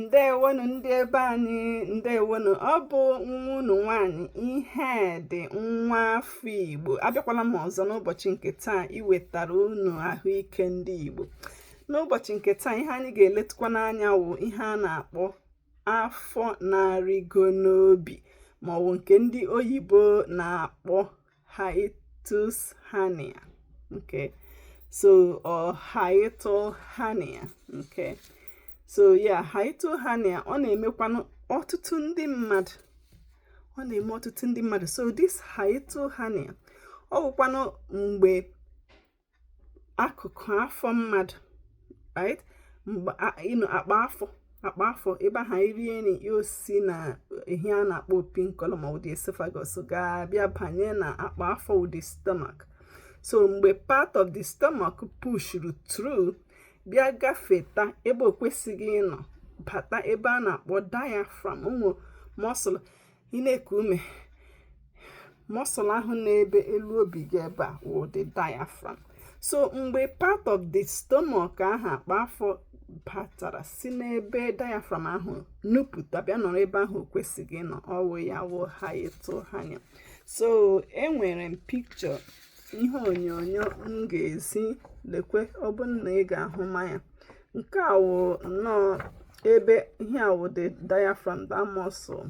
ndewonu ndị ebe anyị ndewonu ọ bụ nwa unu nwanyị ihedi nwa afọ igbo abịakwala m ọzọ n'ụbọchị nke taa iwetara unu ahụike ndị igbo n'ụbọchị nke taa ihe anyị ga-eletụkwanụ anya wụ ihe a na-akpọ afọ na-arịgo n'obi maọbụ nke ndị oyibo na-akpọ hiatus hernia. Okay, so or hiatal hernia. Okay, so yeah, hiatal hernia ọ na-emekwanụ ọtụtụ ndị mmadụ ọ na-eme ọtụtụ ndị mmadụ so this hiatal hernia ọ wụkwanụ mgbe akụkụ afọ mmadụ right mgbe akpa afọ akpa afọ ebe ahụ irie nri ya osi na ihe a na-akpọ opi nkọlọ maọbụ the esophagus ga-abịa banye na akpa afọ wụ the stomach so mgbe part of the stomach pushuru through bịa gafeta ebe o kwesịghị ịnọ bata ebe a na-akpọ diaphragm ọ wụ muscle ị na-eku ume muscle ahụ n'ebe elu obi gị ebe a wụ the diaphragm so mgbe part of the stomach ahụ akpa afọ batara si n'ebe diaphragm ahụ nupụta bịa nọrọ ebe ahụ o kwesịghị ịnọ ọ wụ ya wụ hiatal hernia so enwere m picture ihe onyonyo m ga-ezi lekwe ọ bụ na ị ga-ahụma ya nke a wụ nnọọ ebe ihe a wụ the diaphragm that muscle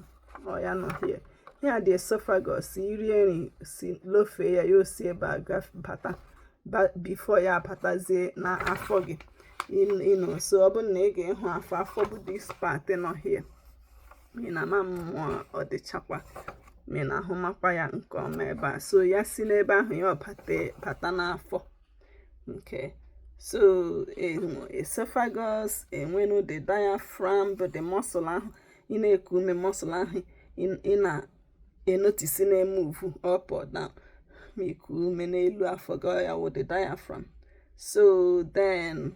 ọ ya nọ here ihe a the esophagus irie nri si lofee ya ya osi ebe a bata bifo ya abatazie na afọ gị you know so ọ bụrụ na ị ga-ịhụ afọ afọ bụ this part nọ here ị na-ama ma ọ dịchakwa ma ị na-ahụmakwa ya nke ọma ebe a so ya si n'ebe ahụ ya abata n'afọ Okay. So um, esophagus, enwenu the diaphragm, bụ the muscle ahụ ị na-eku ume muscle ahụ ị na-enotisi na-emuvu up or down ma iku ume n'elu afọ gị ya wụ the diaphragm. So then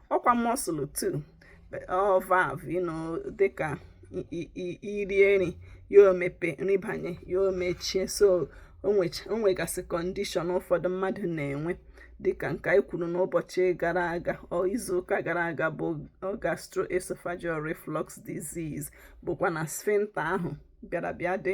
ọkwa muscle too or valve you know dịka irie nri ya omepe nri banye ya omechie so o nwegasị kọndishọn ụfọdụ mmadụ na-enwe dịka nke anyị kwuru n'ụbọchị gara aga or izuụka gara aga bụ gastroesophageal reflux disease bụkwa na sphincter ahụ bịara bịa dị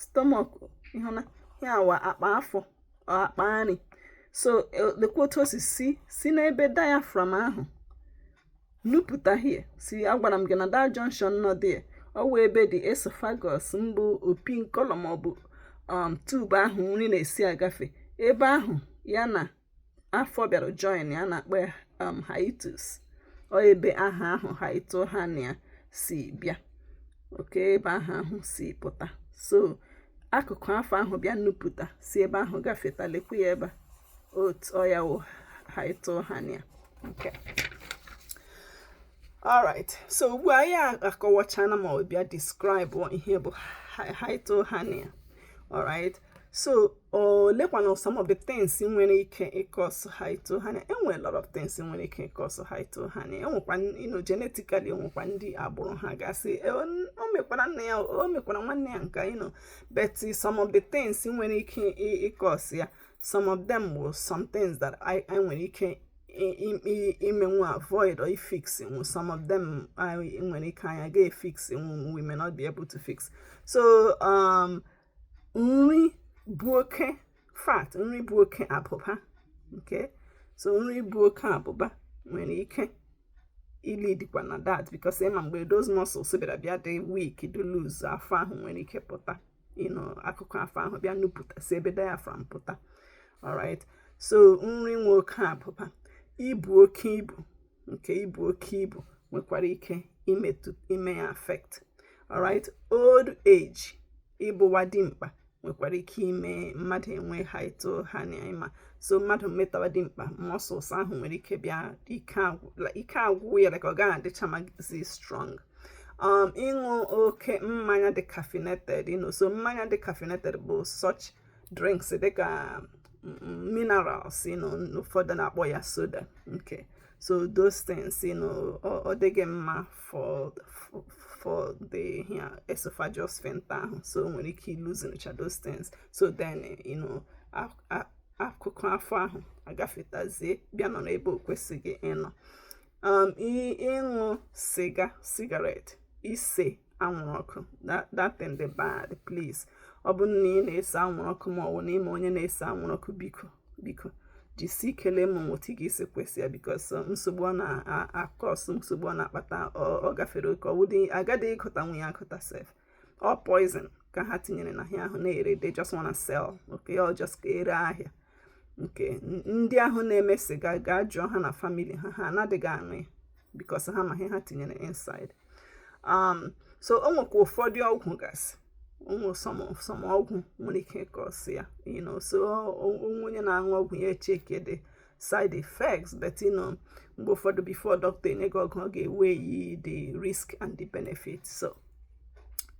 stomach ịhụna ya ọ wụ akpa afọ akpa nri so e, lekwa otu o si si si n'ebe diaphragm ahụ nupụta here si agwara m gị na the junction nọ there ọ wụ ebe the esophagus maọbụ opi nkọlọ maọbụ um tube ahụ nri na-esi agafe ebe ahụ ya na afọ bịara join a na-akpọ ya um, hiatus ọ ebe aha ahụ hiatal hernia si bịa okay ebe aha ahụ si pụta so akụkụ afọ ahụ bịa nupụta si ebe ahụ gafeta lekwa ya ebe a ọ ya wụ hiatal hernia okay alright so ugbu a anyị akọwachana ma bịa describe ihe bụ hiatal hernia alright so olekwanụ some of the things nwere ike ịcause hiatal hernia enwere lot of things nwere ike ịcause hiatal hernia enwekwa you know genetically enwekwa ndị agbụrụ ha gasị e, o mekwara nna ya o mekwara nwanne ya okay you know but some of the things nwere ike ịcause ya some of them wụ some things that I nwere ike imenwu avoid or fix nwu some of them nwere ike anyị agaghị efix nwu we may not be able to fix so um nri bu oke fat nri bu oke abụba okay so nri bu oke abụba nwere ike ilidikwa na that because ị ma mgbe those muscles bịara bịa dị weak dị loose afọ ahụ nwere ike pụta you know akụkụ afọ ahụ bịa nupụta si ebe diaphragm pụta alright so nri nwe oke abụba ibu oke ibu okay ibu oke ibu nwekwara ike ime ya affect alright old age ịbụwa dimkpa nwekwara ike ime mmadụ enwee hiatal hernia ị ma so mmadụ metawa dimkpa muscles ahụ nwere ike bịa ike agwụ ya ka ọ gaghị adịchamazi strong um, ịṅụ oke mmanya dị caffeinated you know so mmanya dị caffeinated bụ such drinks dịka mm, minerals you know ụfọdụ na-akpọ ya soda okay. so those things you know ọ dịghị mma for for the ihe a esophageal sphincter ahụ so o nwere ike iluzincha those things so then you know akụkụ afọ ahụ agafetazie bịa nọrọ ebe o kwesịghị ịnọ um, ịṅụ siga cigarette ise anwụrụ ọkụ that thing dị bad please ọ bụrụ na ị na-ese anwụrụ ọkụ ma ọ bụ na ị ma onye na-ese anwụrụ ọkụ biko biko jisi ike lema otu ị ga-esi kwụsị ya because um, nsogbu ọ na-acause nsogbu ọ na-akpata ọ gafere oke ọ wụdị a gadịghị ịgụtanwu ya agụta sef ọ poison ka ha tinyere n'ihe ahụ na-ere they just wanna sell okay ọ just ka e ree ahịa okay ndị ahụ na-eme siga gaa jụọ ha na family ha ha anadịghị aṅụ ya because ha ma ihe ha tinyere inside um, so o nwekwa ụfọdụ ọgwụ gasị some ọgwụ nwere ike ịcause ya you know so onye na-aṅụ ọgwụ ya checkie the side effects but you know mgbe ụfọdụ before doctor enye gị ọgwụ ọ ga-eweigh the risk and the benefit so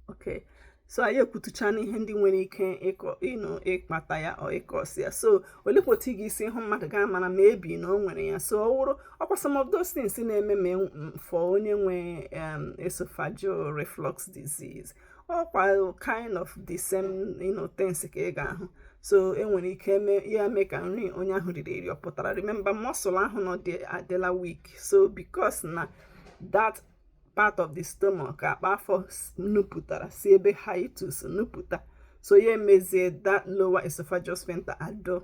okay so anyị ekwutucha n'ihe ndị nwere ike ịkọ ịnụ ịkpata ya or ịcause ya so olekwa otu ị ga-esi hụ mmadụ ga-amara maybe na o nwere ya so ọ wụrụ ọkwa some of those things na-eme ma for onye nwe um, esophageal reflux disease ọkwa kind of the same you know, things ka ị ga-ahụ so e nwere ike ime ya mee ka nri onye ahụ riri eri ọ pụtara remember muscle ahụ na-adịla weak so because na that part of the stomach akpa afọ nupụtara si ebe hiatus nupụta so ya emezie that lower esophageal sphincter adị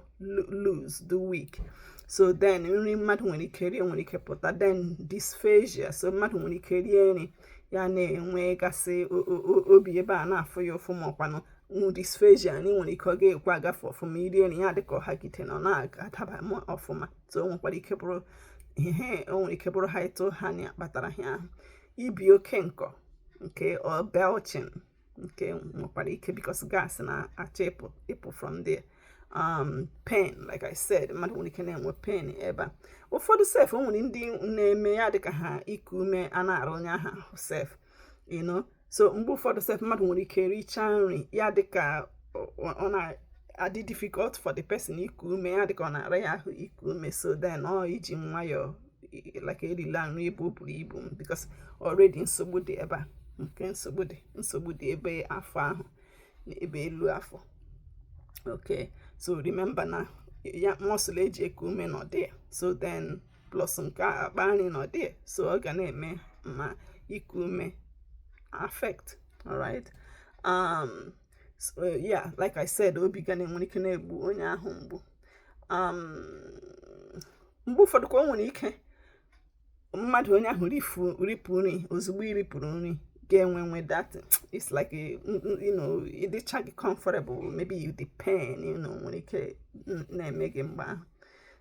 loose dị weak so then nri mmadụ nwere ike rie nwere ike pụta then dysphagia so mmadụ nwere ike rie nri ya na-enwegasị obi ebe a na-afụ ya ụfụ ma ọkwanụ dysphagia na ị nwere ike ọ ga-ekwe agafe ọfụma i rie nri ya dịka ọ hagide na ọ na-adaba ọfụma so o nwekwara ike bụrụ ihe o nwere ike bụrụ hiatal hernia kpatara ihe ahụ ibi oke nkọ nke belching nke nwekwara ike because gas na-achọ ịpụ from there um pain like i said mmadụ nwere ike na-enwe pain ebe a ụfọdụ sef o nwere ndị na-eme ya dịka ha iku ume a na-ara onye ahụ sef you know so mgbe ụfọdụ sef mmadụ nwere ike richaa nri ya dịka ọ na-adị difficult for the person iku ume ya dịka ọ na-ara ya ahụ iku ume so then ọ iji nwayọọ like erila nri ebe o buru ibu um because already nsogbu dị ebe a nke nsogbu dị nsogbu dị ebe afọ ahụ na ebe elu afọ okay so remember na ya muscle e ji eku ume nọ there so then plus nke akpa nri nọ there so ọ ga na-eme ma iku ume affect alright um so yeah like i said obi ga na-enwere ike na-egbu onye ahụ mgbu um mgbe ụfọdụkwa o nwere ike mmadụ onye ahụ ripụ nri ozugbo i ripụrụ nri ga-enwewe that it's like a, you know ị dịchaghị comfortable maybe you the pain you know nwere ike na-eme gị mgbe ahụ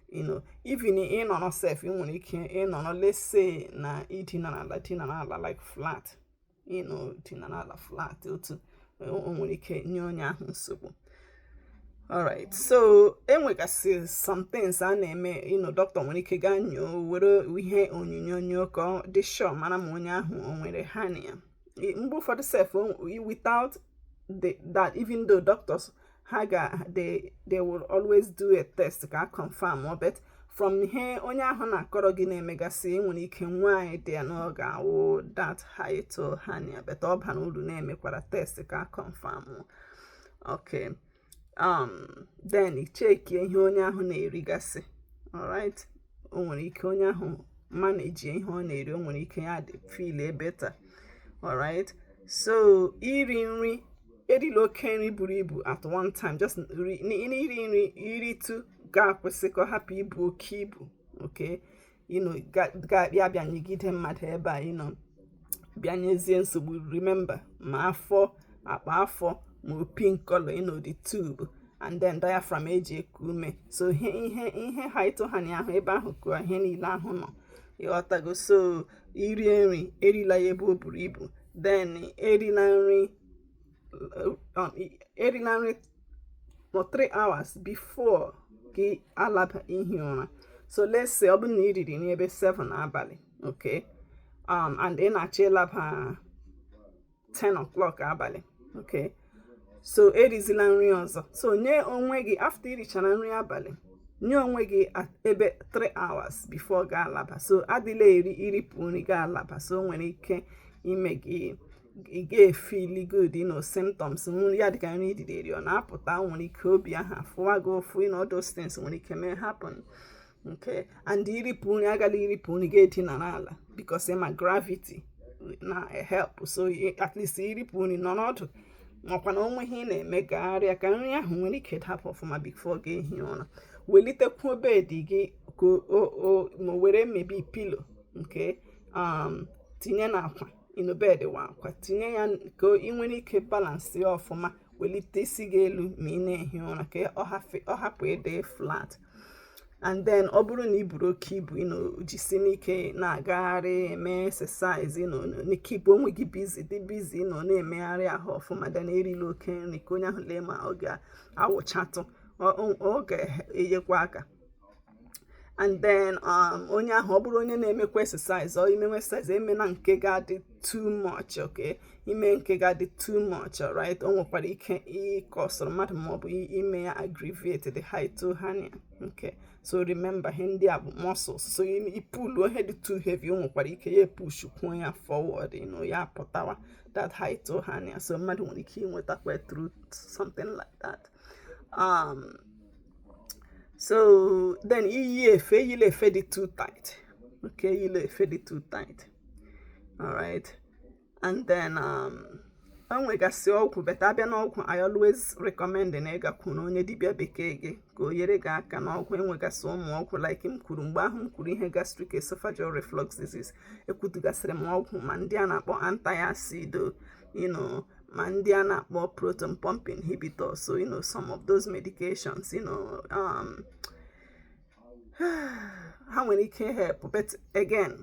you know even ị nọrọ sef ị nwere ike ịnọrọ let's say na i dina n'ala dina n'ala like flat you know dina n'ala flat otu o nwere ike nye onye ahụ nsogbu alright so e nwegasị some things a na-eme you know dọkịta nwere ike gaa nyoo were ihe onyonyo nyoo ka ọ dị sure mara ma onye ahụ o nwere hernia mgbe ụfọdụ sef without the, that even though doctors ha ga they they will always do a test ka a confirm ọ but from ihe onye ahụ na-akọrọ gị na-emegasị ị nwere ike nwee idea na ọ ga-awụ that hiatal hernia but ọ bara uru na e mekwara test ka a confirm ok um then cheki ihe onye ahụ na-erigasị alright o nwere ike onye ahụ manejie ihe ọ na-eri o nwere ike ya dị feel better alright so iri nri erila oke nri buru ibu at one time just i rie nri i ritụ gị akwụsị ka ọ hapụ ibu oke ibu oke you know ga-abịa abịa nyegide mmadụ ebe a you know bịa nyezie nsogbu remember ma afọ akpa afọ ma opi nkọlọ you know the tube and then diaphragm eji eku ume so ihe ihe ihe ha atọ ha na ahụ ebe ahụ ka ihe niile ahụ nọ ị ghọtago so i rie nri erila ya ebe o buru ibu then erila nri um, erila nri for three hours before gị alaba ihi ụra so let's say ọ bụrụ na ị riri nri ebe 7 abalị okay um, and ị na-achọ ịlaba 10 o'clock abalị okay so erizila nri ọzọ so nye onwe gị after i richara nri abalị nye onwe gị ebe 3 hours before gị alaba so adịla eri i ripụ nri gị alaba so o nwere ike ime gị ị ga-efeel good you know symptoms ndị a dịka nri i riri ọ na-apụta nwere ike obi ahụ fụwa gị ụfụ you know those things nwere ike mee happen nke and i ripụ nri agala iripụ nri gaa dinara ala because ị ma gravity na-help so at least i ripụ nri nọrọ ọdụ makwa na o nwee ihe ị na-eme gagharịa ka nri ahụ nwere ike dapụ ọfụma before gị ehi ụra welitekwuo bed gị ka o were maybe pillow nke um, tinye n'akwa you know bed wakwa tinye ya ka ị nwere ike balance ya ọfụma welite isi gị elu ma ị na-ehi ụra ka ọ hapụ ịdị flat and then ọ bụrụ na ị buru oke ibu you know jisie ike na-agagharị eme exercise you know na-ekeep onwe gị busy dị busy you know na-emegharị ahụ ọfụma then erila oke nri ka onye ahụ lee ma ọ ga-awụchatụ ọ ga-enyekwa aka and then um, onye ahụ ọ bụrụ onye na-emekwa exercise ọ i mewe exercise emena nke ga-adị too much okay i mee nke ga-adị too much right o nwekwara ike ịkọsụrụ mmadụ maọbụ ime ya aggravate the hiatal hernia okay so remember ihe ndị a bụ muscles so ị pull ihe dị too heavy o nwekwara ike ya push kwuo ya forward you know, ya pụtawa that hiatal hernia so mmadụ nwere ike inwetakwa through something like that um, so then iyi efe eyila efe dị too tight okay eyila efe dị too tight alright and then um, enwegasị ọgwụ but a bịa n'ọgwụ i always recommend na ị gakwuru onye dibịa bekee gị ka o nyere gị aka n'ọgwụ enwegasị ụmụ ọgwụ like m kwuru mgbe ahụ m kwuru ihe gastric esophageal reflux disease ekwutugasịrị m ọgwụ ma ndị a na-akpọ anti-acid you know ma ndị a na-akpọ proton pump inhibitor so you know some of those medications you know um, ha nwere ike help but again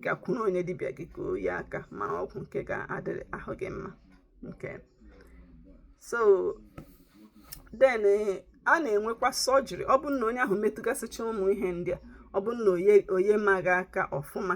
gakwuru onye dibịa gị ka o nye gị aka mara ọgwụ nke ga-adịrị ahụ gị mma okay so then eh, a na-enwekwa surgery ọ bụrụ na onye ahụ metụgasịcha ụmụ ihe ndị a ọ bụrụ na o nyebeghị aka ọfụma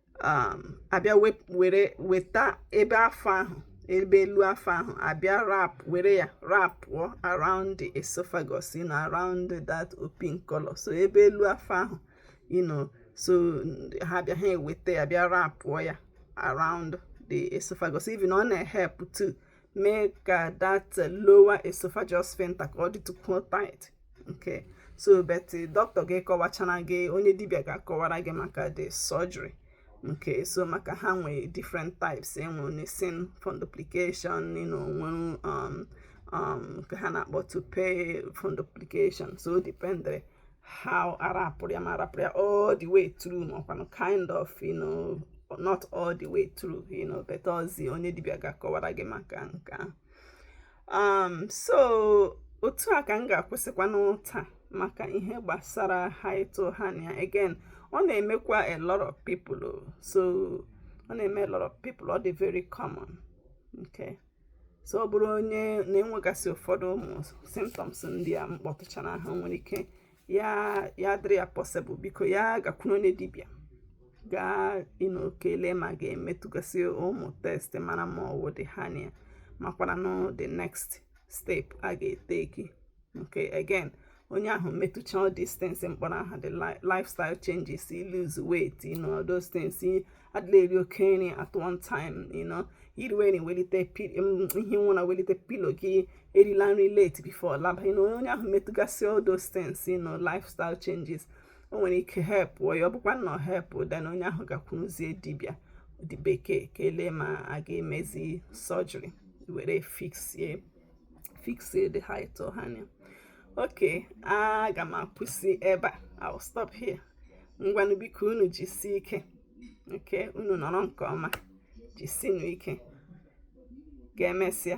um, a bịa were weta ebe afọ ahụ ebe elu afọ ahụ a bịa wrap were ya wrapụọ around the esophagus you know around that open collar so ebe elu afọ ahụ you know so ha bịa ha eweta ya bịa wrapụọ ya around the esophagus even ọ na-ehelp to mee ka that lower esophageal sphincter ka ọ dịtụkwuo tight okay so but eh, doctor ga-akọwachara gị onye dibịa ga-akọwara gị maka the surgery okay so maka ha nwee different types e nwere nissen fundoplication you know, nwere um, um, nke ha na-akpọ toupet fundoplication so dependiri how a wrapụrụ ya ma a wrapụrụ ya all the way through ma ọ kwanụ kind of you know not all the way through you know but also onye dibịa ga-akọwara gị maka nke ahụ um so otu a ka m ga-akwụsịkwanụ taa maka ihe gbasara hiatal hernia again ọ na-emekwa a lot of people oh. so ọ na-eme a lot of people ọ dị very common okay so ọ bụrụ onye na-enwegasị ụfọdụ ụmụ symptoms ndị a m kpọtụchara aha nwere ike ya ya dịrị ya possible biko ya gakwuru onye dibịa gaa you know ka e lee ma a ga-emetụgasị ụmụ test mara ma ọ wụ the hernia makwaranụ the next step a ga-eteki okay again onye ahụ metụcha all these things m kpọrọ aha the lifestyle changes lose weight you know those things adịla eri oke nri at one time you know iriwe na ewelite i hie ụra welite pillow gị erila nri late before ị laba you know onye ahụ metụgasị all those things you know lifestyle changes o nwere ike help ya ọ bụkwa na ọ help then onye ahụ gakwuruzie dibịa ndị bekee ka e lee ma a ga-emezi surgery were fixie fixie the hiatal hernia okay aga m akwụsị ebe a i will stop here ngwanụ biko unu jisi ike okay unu nọrọ nke ọma jisinu ike ka emesịa